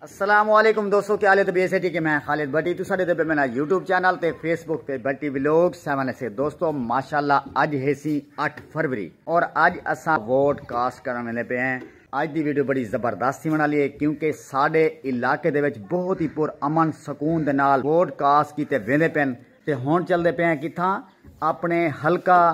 السلام علیکم دوستو کیا لے تو بی ایس ایٹی کے میں خالد بٹی تو ساڑھے دے پہ میرا یوٹیوب چینل تے فیس بک تے بٹی ویلوگ سیون ایسے دوستو ماشاءاللہ آج ہے سی اٹھ فروری اور آج اسا ووٹ کاسٹ کرنے لے پہ ہیں آج دی ویڈیو بڑی زبردست تھی منا لیے کیونکہ ساڑھے علاقے دے وچ بہت ہی پر امن سکون دے نال ووٹ کاسٹ کیتے ویندے پین تے ہون چل دے پہ ہیں کتھا اپنے حلقہ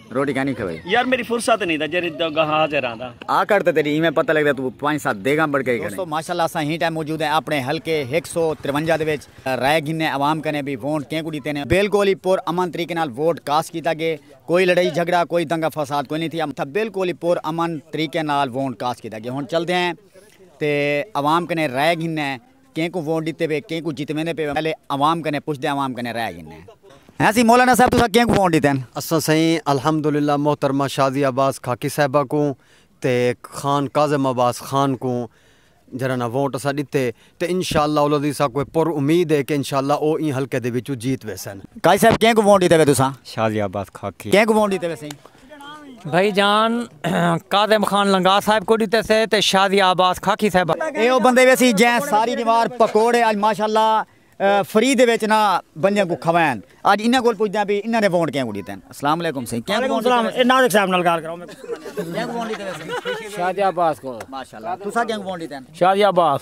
روٹی کھانی کھوئی یار میری فرصت نہیں دا جری دگا حاضر آندا آ کر تے تیری ایویں پتہ لگ دا تو پانچ سات دیگاں بڑھ کے کریں دوستو ماشاءاللہ اساں ہی ٹائم موجود ہیں اپنے حلقے 153 دے وچ رائے گھنے عوام کنے بھی وونٹ کیں کو ڈیتے نے بالکل ہی پر امن طریقے نال ووٹ کاسٹ کیتا گے کوئی لڑائی جھگڑا کوئی دنگا فساد کوئی نہیں تھی امتھا بالکل ہی پر امن طریقے نال وونٹ کاسٹ کیتا گے ہن چل دے ہیں تے عوام کنے رائے گھنے کہیں کوں ووٹ ڈتے پے کہیں کوں جتویندے پے پہلے عوام کنیں پچھدے عوام کنیں رہ گھنے ہاں سی مولانا صاحب تساں کہیں کوں ووٹ ڈتے ہن۔ اساں سئیں الحمدللہ محترمہ شازیہ عباس خاکی صاحبہ کوں تے خان کاظم عباس خان کوں جیرھا نا ووٹ اساں ڈتے تے انشاءاللہ العزیز ساکوں اے پر امید اے کہ انشاءاللہ او ایں حلقے دے وچوں جیت ویسن۔ قاضی صاحب کہیں کوں ووٹ ڈتے پے تساں۔ شازیہ عباس خاکی۔ کہیں کوں ووٹ ڈتے پے سئیں۔ بھئی جان کاظم خان لنگاہ صاحب کوں ݙتے سے تے شازیہ عباس خاکی صاحب آ۔ اے او بندے ویسی جئیں ساری نوار پکوڑے اڄ ماشاءاللہ فری دے وچ نا بندیاں کوں کھوائن۔ اڄ انہاں کول پچھدیاں بھئی انہاں نے وونٹ کیاں کوں ݙتے ہن۔ السلام علیکم سئیں کیاں کوں وونٹ ݙتے ویسن۔ ناظر صاحب نال گال کراؤ۔ کیاں کوں وونٹ ݙتے ویسن۔ شازیہ عباس کوں۔ ماشاءاللہ تساں کیاں کوں وونٹ ݙتے ہن۔ شازیہ عباس۔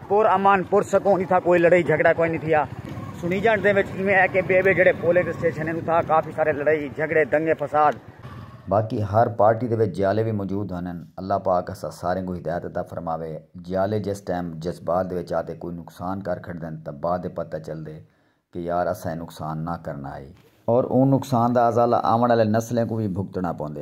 پر امن، پر سکون اتھاں کوئی لڑائی جھگڑا کوئی نی تھیا۔ سنیجنڈ دے وچ ایویں ہے کہ بے بے جیڑھے پولنگ اسٹیشن ہن اتھاں کافی سارے لڑائی جھگڑے دنگے فساد۔ باقی ہر پارٹی دے وچ جیالے وی موجود ہنن۔ اللہ پاک اساں ساریں کوں ہدایت عطا فرماوے۔ جیالے جس ٹائم جذبات دے وچ آتے کوئی نقصان کر کھڑدن تاں بعد ءچ پتہ چلدے کہ یار اساں اے نقصان نہ کرنا ہئی۔ اور اوں نقصان دا ازالہ آوݨ آلے نسلیں کوں وی بھگتݨا پوندے۔